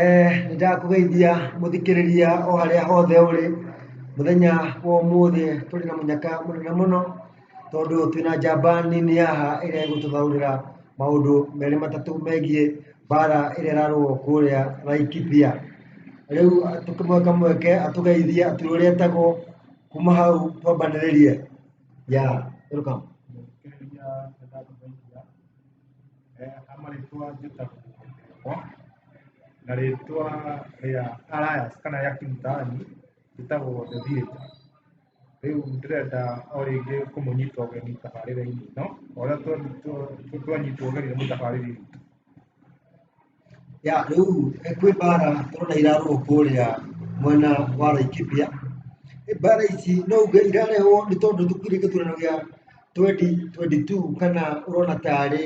Eh, nĩ ndakũgeithia mũthikĩrĩria o harĩa hothe ũrĩ mũthenya wa ũmũthĩ tũrĩ na mũnyaka mũnene mũno tondũ twĩna njamba nini haha ĩrĩa ĩgũtũthaurĩra maũndũ merĩ matatũ megiĩ mbara ĩrĩa ĩrarũo kũrĩa Laikipia rĩu tũkĩmweka mweke atũgeithie atwĩre ũrĩa etagwo kuma hau twambanĩrĩrie ya welcome Ama rĩtwa njĩtagwo Ndegwa, na rĩtwa rĩa alliance kana rĩa kĩũtani njĩtagwo The Theatre. Rĩu ndĩrenda o rĩngĩ kũmũnyita ũgeni tabarĩra-inĩ ĩno, o ũrĩa twanyitwo ũgeni nĩ mũtabarĩri witũ. Ya, rĩu kwĩ mbara tũrona irarũo kũrĩa mwena wa Laikipia. Mbara ici no uge irarehũo nĩ tondũ gũtirĩ gĩthurano gĩa twenty twenty two kana ũrona tarĩ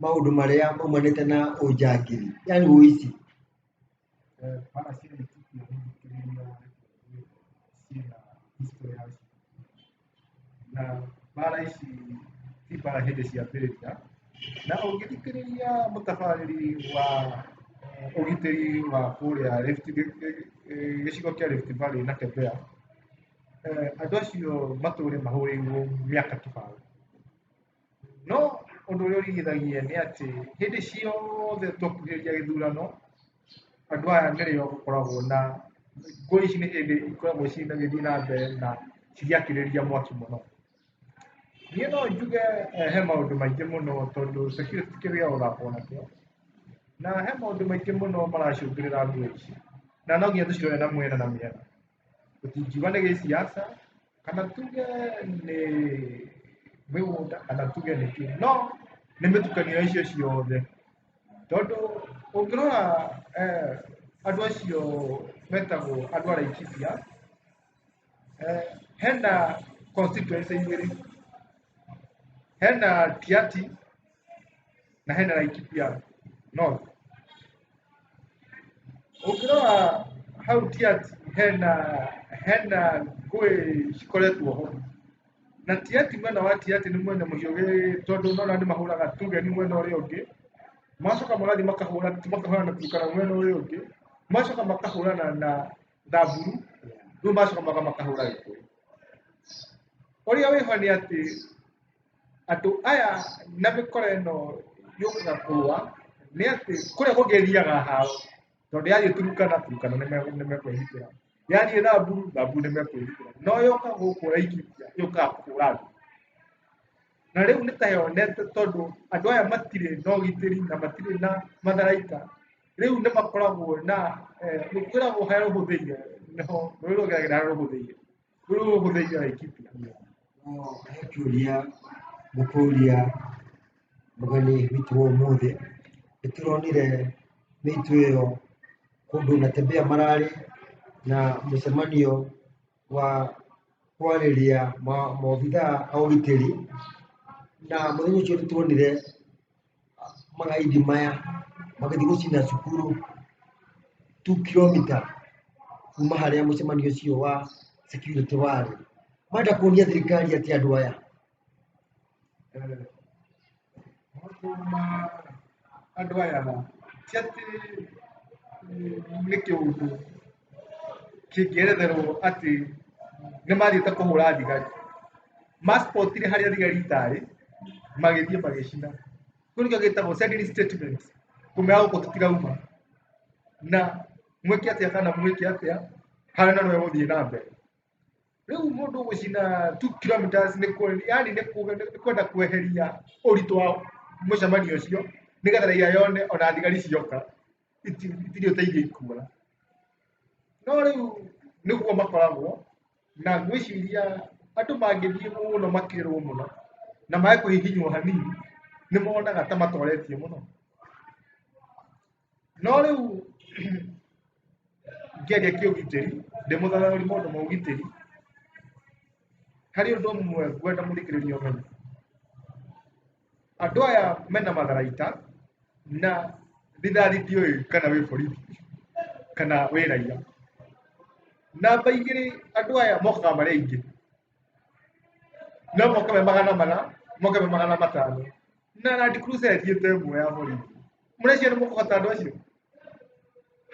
maũndũ marĩa maumanĩte na ũnjangiri, yaani ũici. na mbara ici ti mbara hĩndĩ ciambĩrĩria na ũngĩthikĩrĩria mũtabarĩri wa eh, ũgitĩri wa kũrĩa Rift gĩ- gĩ- eh, gĩcigo kĩa Rift Valley na Kebea eh, andũ acio matũũre mahũrĩirwo mĩaka kĩbao no ũndũ ũrĩa ũrigithagia nĩ atĩ hĩndĩ ciothe twakuhĩrĩria gĩthurano andũ aya nĩrĩo gũkoragwo na ngũĩ ici nĩ hĩndĩ ikoragwo cigĩthiĩ na mbere na cigĩakĩrĩria mwaki mũno niĩ no njuge eh, he maũndũ maingĩ mũno tondũ security ti kĩndũ gĩa gũthakwo nakĩo na he maũndũ maingĩ mũno maracũngĩrĩra ngũĩ ici na no nginya tũcirore na mwena na mĩena tũtingiuga nĩ gĩsiasa kana tuge nĩ mĩgũnda kana tuge nĩ kĩ no nĩ mĩtukanio ya icio ciothe tondũ ũngĩrora eh, andũ acio metagwo andũ a Laikipia eh, hena constituency igĩrĩ hena Tiati na hena na Laikipia North ukirora hau ti ati hena hena ngũĩ cikoretwo ho na ti ati mwena wa ti ati nĩ mwena mũhiũgĩ tondũ nona nĩ mahũraga tuge nĩ mwena ũrĩa ũngĩ macoka magathiĩ makahũra makahũra na turukana mwena ũrĩa ũngĩ macoka makahũrana na thamburu rĩu macoka maga makahũra gĩkũyũ ũrĩa wĩho nĩ atĩ andũ aya na mĩkora ĩno yũkaga kũrũa nĩ atĩ kũrĩa kũngĩ ĩthiaga hao tondũ yathiĩ turukana turukana nĩ me- nĩ mekwĩhitĩra yathiĩ thambu thambu nĩ mekwĩhitĩra no yoka gũkũ raikiria yũkaga kũhũra andũ na rĩu nĩ ta yonete tondũ andũ aya matirĩ na ũgitĩri na matirĩ na matharaita rĩu nĩ makoragwo na eh, nĩ kwĩragwo harĩa rũhũthĩire nĩho rũrĩrĩ rũgeragĩra harĩa rũhũthĩire Kwĩ ũũ ũgũthĩnja Aikipia. No he kĩũria ngũkũria mũgeni witũ wa ũmũthĩ nĩtũronire mĩitũ ĩyo kũndũ na tembea mararĩ na mũcemanio wa kwarĩria ma- maobithaa a ũgitĩri na mũthenya ũcio nĩtuonire mga idimaya magathigwo cina cukuru 2 kilomita kuma harĩa mũcemanio ũcio wa security warĩ manda kuonia thirikari atĩ andũ aya eh, maũndũ ma andũ aya ti atĩ eh, nĩ kĩũndũ kĩngĩeretherwo atĩ nĩ mathiĩte kũhũra thigari maspotire harĩa thigari itarĩ magĩthiĩ magĩcina kĩu nĩkĩo gĩtagwo sending statement kũmea gũkũ tũtirauma na mwĩke atĩa kana mwĩke atĩa harĩa na nĩwe gũthiĩ na mbere rĩu mũndũ gũcina 2 kilometers nĩ kwe- yaani nĩ kuga- nĩ kwenda kweheria ũritũ wa mũcemanio ũcio nĩgetha raia yone ona thigari cioka itirĩ ũteithio ikuona no rĩu nĩguo makoragwo na ngwĩciria andũ mangĩthiĩ mũno makĩrwo mũno na mae kũhihinywo hanini nĩ monaga ta matoretio mũno no rĩu ngĩaria kĩũgitĩri ndĩmũthararĩ maũndũ ma ũgitĩri harĩ ũndũ ũmwe ngwenda mũthikĩrĩria ũmenye andå aya mena matharaita na thigari ndiå kana wä borithi kana wä raia namba igä rä andå aya mokaga marä aingä no moka me magana mana moka me magana matano na Land Cruiser ĩthiĩ ta ĩmwe ya borithi mũreciria nĩ mũkũhota andũ acio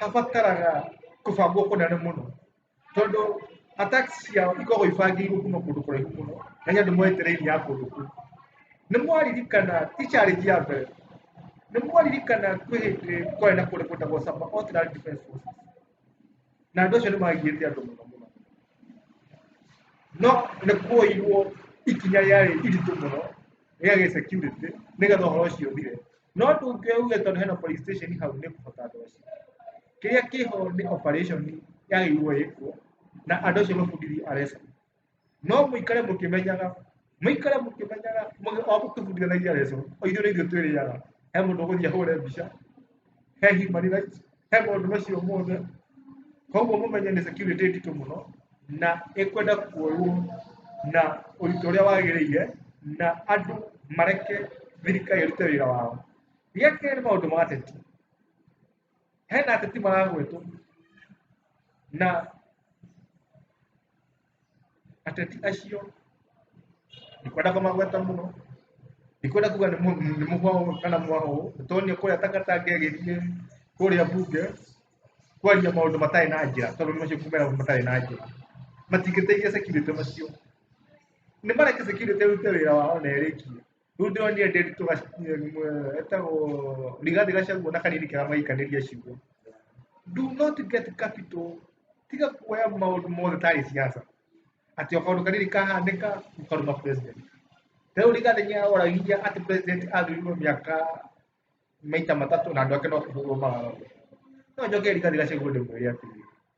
habataraga kũbangwo kũnene mũno tondå attacks ciao ikoragwo ibangĩirwo kuma kũndũ kũraihu mũno na nĩ andũ mwetereire ya kũndũ kũu nĩ mwaririkana ticharĩnji ya mbere nĩ mwaririkana kwĩ hĩndĩ kwarĩ na kũndũ gwĩtagwo Saba Alternate Defense Forces na andũ acio nĩ magigĩte andũ mũno mũno no nĩ kuoirwo ikinya rĩarĩ iritũ mũno rĩagĩ security nĩgetha ũhoro ũcio ũthire no tũngĩ uge tondũ hena police station hau nĩ kũhota andũ acio kĩrĩa kĩho nĩ operation yagĩrĩirwo ĩkwo na andũ acio mabundithio aresa no mũikare mũkĩmenyaga mũikare mũkĩmenyaga mũgĩ- o mũkĩbundithanagia aresa o ithuĩ nĩ ithuĩ twĩrĩaga he mũndũ ũgũthiĩ ahũre mbica he human rights he maũndũ macio mothe koguo mũmenye nĩ security nditũ mũno na ĩkwenda kuoywo na ũritũ ũrĩa wagĩrĩire na andũ mareke thirikari ĩrute wĩra wao gĩa kerĩ nĩ maũndũ ma ateti hena ateti maragwetwo na ateti acio ndikwenda kũmagweta mũno ndikwenda kuga nĩ mũ- nĩ mũhwaũ kana mwaũ tondũ kũrĩa takataka ĩgĩthiĩ kũrĩa bunge kwaria maũndũ matarĩ na njĩra tondũ macio kumera matarĩ na njĩra matingĩteithia security macio nĩ mareke security ĩrute wĩra wao na ĩrĩkie Ruthe ũyũ nĩende tũgeta rigathi gacaguo na kanini kega maikanĩria ciugo do not get capital tiga kuoya maũndũ mothe tarĩ siasa atĩ o kaũndũ kanini kahanĩka ũkaruma president rĩu rigathi nĩaoragia atĩ president athurirwo mĩaka maita matatũ na andũ ake no kũhũrwo mararagwo no njoke rigathi gacaguo ndĩmwĩre atĩrĩ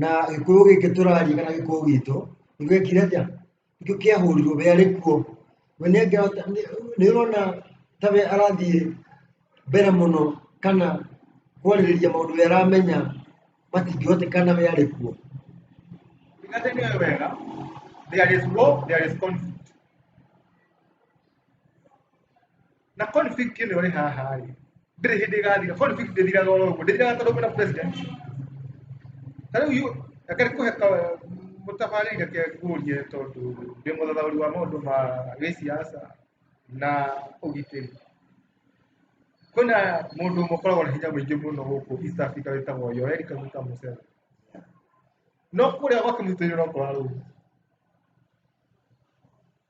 na gĩkũyũ gĩkĩ tũraria kana gĩkũyũ gitũ nĩgwekire atĩa nĩkĩo kĩahũrirwo we arĩ kuo we nĩangĩhota nĩũrona ta we arathiĩ mbere mũno kana kwarĩrĩria maũndũ we aramenya matingĩhotekana we arĩ kuo Thingate nĩ oĩ wega. There is war, there is conflict. na config ĩno ĩrĩ haha rĩ ndĩrĩ hĩndĩ ĩgathira config ndĩthiraga oro ũguo ndĩthiraga tondũ kwĩna president ta rĩu yu- reke kũhe ka- mũtabarĩri reke ngũrie tondũ ndĩ mũthathaũri wa maũndũ ma gĩsiasa na ũgitĩri kwĩna mũndũ ũmwe ũkoragwo na hinya mũingĩ mũno gũkũ east africa wĩtagwo yoeri kaguta museveni no kũrĩa gwake mũitĩrĩro ũkoragwo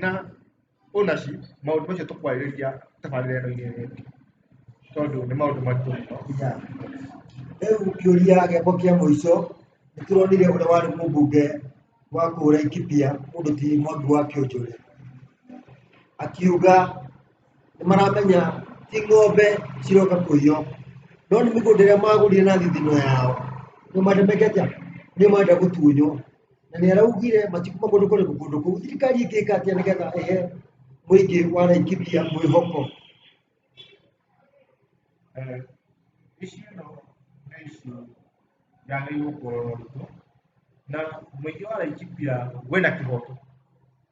na ũna ci maũndũ macio tũkwarĩrĩria tabarĩra-inĩ ĩyo ĩngĩ tondũ nĩ maũndũ maritũ mũno Ya. Rĩu kĩũria gĩakwa kĩa mũico nĩ tũronire ũrĩa warĩ mũmbunge wa kũhũra ikipia mũndũ ti mwangi wa kĩonjore akiuga nĩ maramenya ti ng'ombe ciroka kũiywo no nĩ mĩgũnda ĩrĩa magũrire na thithino yao nĩ matemeke atĩa nĩ marenda gũtunywo na nĩ araugire matikuma kũndũ kũrĩkũ kũndũ kũu thirikari ĩngĩka atĩa nĩgetha ĩhe mũingĩ wa Laikipia mwĩhoko Eh, ici ĩno nĩ ici yagĩrĩirwo kuoywo na mũingĩ wa Laikipia wĩna kĩhoto